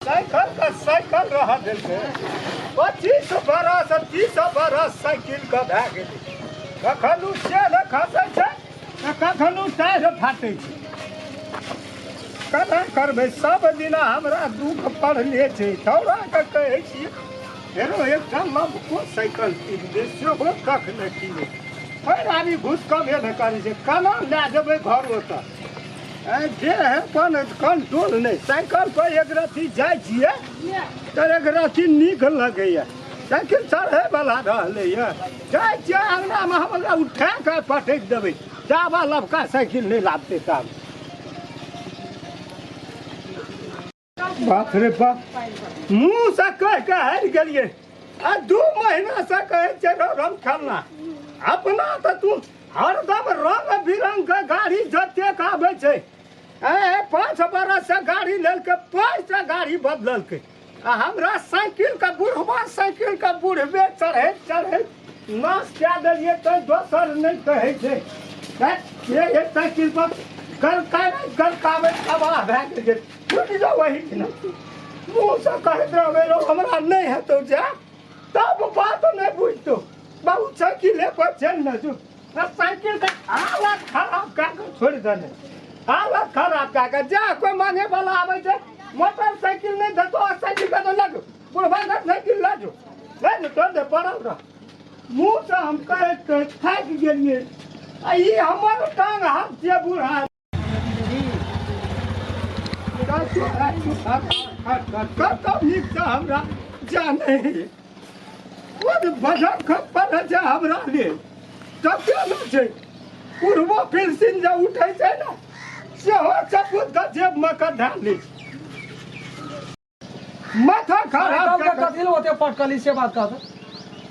Cycle का cycle रह गेल छै पच्चीस बरस तीस बरस साइकिल के भए गेलै कखन ओ सेर खसै छै तऽ कखन ओ टाढ़ि फाटै छै केना करबै सब दिना हमरा दुख पड़ले छै दौड़ा कऽ कहै छी फेरो एकटा लमको साइकिल कीन दे सेहो कख नहि कीने पैर आबी घुसकबे नहि करै छै केना लए जेबै घरो तक जे है अपन कंट्रोल नहीं साइकिल पर एक रत्ती जाय छिए तर एक रत्ती नीक लगैए साइकिल चढ़े वाला रहले ये जाय छिए अंगना में हमरा उठा के पटक देबे जाबा लबका साइकिल नहीं लाबते तब बाप रे बाप मुंह से कह के हारि गेलिए आ दू महीना से कहे छे रो रम खेलना अपना तो तू हरदम रंग बिरंग के गाड़ी जते के आबे छे ए पाँच बरस से गाड़ी लेलके पाँच से गाड़ी बदललके आ हमरा साइकिल के बुढ़वा साइकिल के बुढ़वे चढ़े चढ़े नाश कए देलियै तऽ दोसर नहि कहै छै हैं? ये ये साइकिल पर गलकाबे गलकाबे तबाह भए गेलियै छुटि जाओ वही दिना मुँहसँ कहैत रहबै रौ हमरा नहि हेतौ जा तब बात नहि बुझतौ बाबू साइकिल एक बार चल न जो आ साइकिल के हालत खराब कए कऽ छोड़ि देने हालत खराब कए कऽ जा कोइ मांगे वाला आबै छै मोटरसाइकिल नहि देतौ आ साइकिल देतौ लगो पूरा भाई ना नहीं दिल लाजो नहीं तो तो दे पड़ा उड़ा मुंह से हम कहे तो खाक गेलिए आ ई हमर टांग हाथ से बूढ़ा राजू राजू हट हट हट कब कब निक से हमरा जाने वो भजन खप पर जा हमरा ले तब क्या ना छै पूर्वो फिर सिन जे उठै छै ना सेहो सब जेब में कढ़ा लै छै माथा खराब कल के कऽ कऽ- कथी ले ओते पटकली से बात कह दे।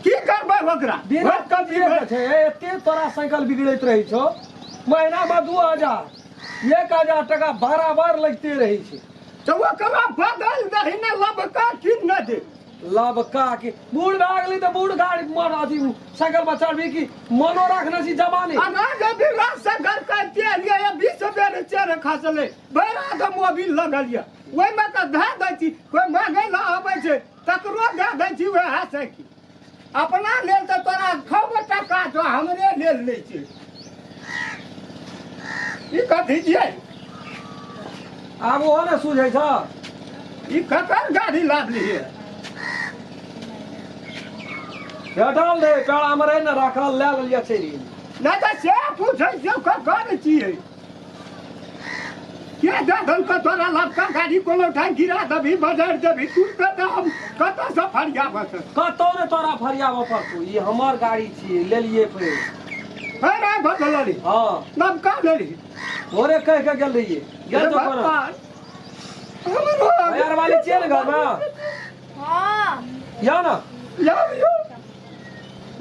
की करबै ओकरा बिना ओकरा की कथिए करबै? के छै एते तोरा साइकिल बिगड़ैत रहै छौ महीना मे दू हजार एक हजार टका बराबर लगते रहै छै तऽ ओकरा बदल दही ने लबका की न दे लबका के बूढ़ भए गेलै तऽ बूढ़ गाड़ी मर अथी साइकिल पर चढ़बी कि मनो राखने छी जवानी आ ना जे भी रास्ता घर करते एलियै बीस बेर चेहरे खसलै भैर आदम मोबिल लगल यऽ ओहिमे तऽ धए दै छी कोइ मांगै लए आबै छै तकरो दए दै छी वएह से की अपना लेल तऽ तोरा छओ गो टका छौ हमरे लेल नहि छै ई कथी छियै आब ओहो ने सूझै छ ई ककर गाड़ी लादलियै भेटल रे पेड़ामे रहै ने राखल लए लेलियै चलि गेलियै नहि तऽ से पूछै छियौ ककर छियै के ददन के तोरा लड़का गाड़ी कोनो ठाम गिरा देबी बजार देबी तू तऽ तऽ हम कतऽसँ फरियाबऽ तऽ कतौ ने तोरा फरियाबऽ पड़तौ ई हमर गाड़ी छियै लेलियै फेर फेर आइ बदल रे हँ नबका लेली भोरे कहि के गेल रहियै गेल तो कोना यार वाली छियै ने घरमे हाँ या ने यार यौ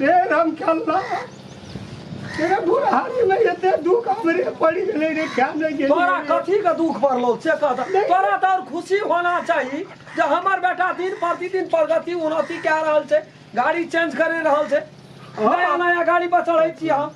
ए राम खेलना तेरे बुढ़ारी में एते दुख हमरे पड़ी गेले रे क्या नहीं गेले तोरा कथी के दुख पड़लो से कहता तोरा तो और खुशी होना चाहिए जे हमर बेटा दिन प्रतिदिन प्रगति उन्नति कए रहल छै गाड़ी चेंज करे रहल छै नया नया गाड़ी पर चढ़ै छी हम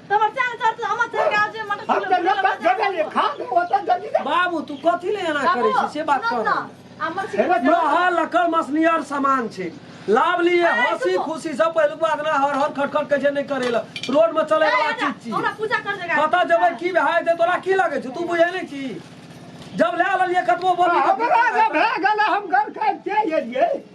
बाबू तू कथी ले एना करै छी से बात कर रहल लकड़ मसनियर सामान छै लाभ लिए हंसी खुशी से पहले बात ना हर हर खटखट के जे नहीं करेला रोड में चले वाला चीज छी पता जब की भाई दे तोरा की लगे छै तू बुझे नहीं छी जब ले लिए कतबो बोल हमरा से भए गेल हम घर खाए के एलियै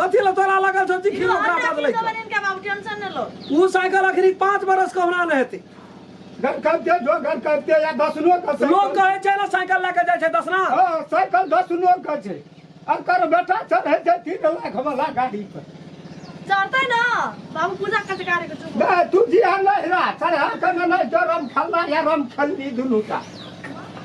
कथी ला तोरा लागल छौ चिट्ठी ओकरा पास लैके इनका बाबू टेंशन न लो ऊ साइकिल अखनी पाँच बरस के होना नहि हेतै घर करते जो घर करते या दसनो का साइकिल। लोग कहै छै ने साइकिल लए कऽ जाइ छै दसना हाँ, साइकिल दसनो का छै अकर बेटा चढ़े छै तीन लाख वाला गाड़ी पर चढ़ते ना बाबू पूजा करते गाड़ी को चुप नहीं तू जिया नहीं रहा चढ़ा कर नहीं जो रम खेलना या रम खेलनी दुनू का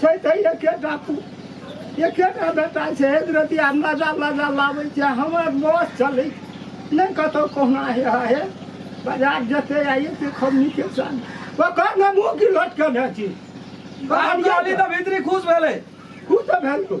छै तऽ एकेटा पु- एकेटा बेटा छै रतिया मजा मजा लाबै छै हमर बस चलै नहि कतौ कहुना हे हा हे बाजार जेतै आ एते खमनी के सन ओकर ने मुँह की लटकने छी हम कहली तऽ भीतरी खुश भेलै खुश तऽ भेल तू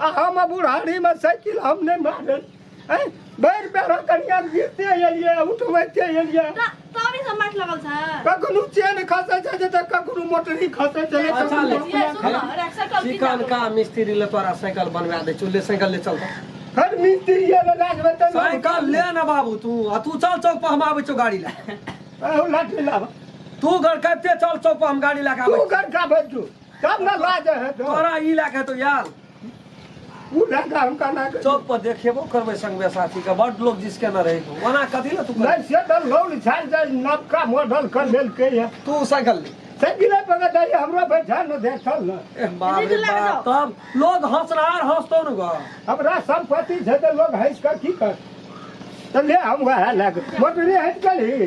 आ हम आ बुढ़ारी में साइकिल हम नहीं मारे हैं बैर पैरा कनिया गिरते एलिए उठबैते एलिए त तबे से माट लगल छ कखनो चेन खसै छै जे तऽ कखनो मोटरी खसै छै अच्छा, ले। ये सुन न, रे, साइकिल की चिकन जादू। का मिस्त्री ले तोरा साइकिल बनवा दे चुल्ले साइकिल ले चल हर मिस्त्री ये ले लागबे तऽ साइकिल ले ना बाबू तू आ तू चल चौक पर हम आबै छौ गाड़ी ले लाठी लाबा तू घर कबते चल चौक पर हम गाड़ी लगा तू आबै घर का बजू तब ना लाज है तो तोरा ई लए के तो यार उ लड़का हम कहना के चौक पर देखेबो करबै संगमे साथी के बड लोग जिसके न रहे तो ओना कथी ले तू कर नहीं से तो लोन झाड़ जाए नबका मॉडल कर लेल के है तू साइकिल ले सगिले पकड़ दे हमरा बैठा न दे चल ना ए बाप रे बाप तब लोग हंसनार हंसतो न ग हमरा संपत्ति छै तऽ लोग हँसि कऽ की कर तऽ ले हम वएह लए कऽ मोटरे हटि गेली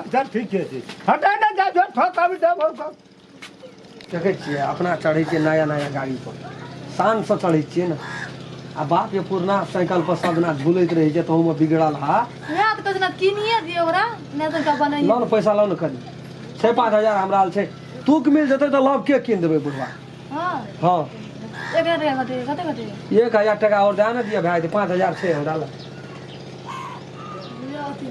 अच्छा ठीके छै हटा ना जा जो ठोक अभी दे बहुत कम। देखै छियै अपना चढ़ै छियै नया नया गाड़ीपर शानसँ चढ़ै छियै ने आ बापके पुरना साइकिलपर सब दिना बुलैत रहै छै तहूमे बिगड़ल हा वएह तऽ कहै छै ने किनिए दियौ ओकरा नहि तऽ ओकरा बनाइए लऽ ने पैसा लऽ ने कनी छै पाँच हजार हमरा लग छै तूक मिल जेतै तऽ लव के कीन देबै बुढ़वा हँ हँ एक हजार टका कते कते कते एक हजार टाका आओर दए ने दिअ भए जेतै पाँच हजार छै हमरा लग लिअ अथी